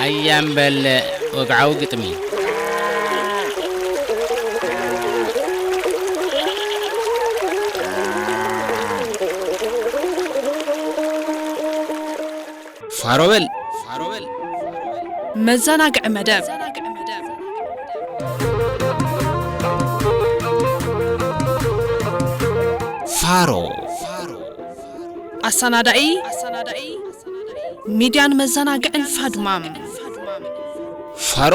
ኣያም በለ ወግዓዊ ግጥሚ ፋሮ በል ፋሮ በል መዘናግዒ መደብ ፋሮ ኣሰናዳኢ ሚድያን መዘናግዕን ፋድማም ፋሮ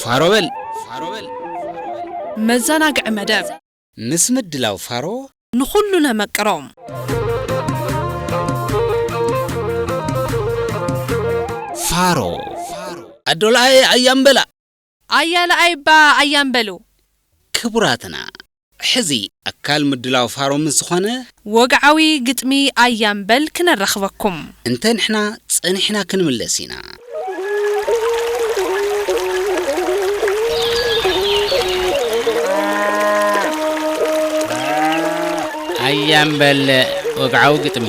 ፋሮ በል! መዘናግዒ መደብ! ምስ ምድላው ፋሮ! ንኹሉ ነመቅሮ! ፋሮ! ኣዶ ለኣይ ኣያም በላ! ኣያ ለኣይ እባ ኣያም በሉ! ክቡራትና! ሕዚ ኣካል ምድላው ፋሮ ምስ ዝኾነ። ወግዓዊ ግጥሚ ኣያ እምበል ክነራኽበኩም። እንተ ንሕና ጸኒሕና ክንምለስ ኢና። ኣያ እምበል ወግዓዊ ግጥሚ።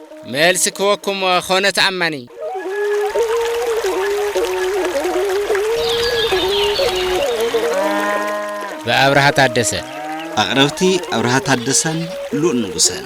መልሲ ክወኩም ኾነ ተኣማኒ። ብኣብርሃ ታደሰ። ኣቕረብቲ ኣብርሃ ታደሰን ሉል ንጉሰን።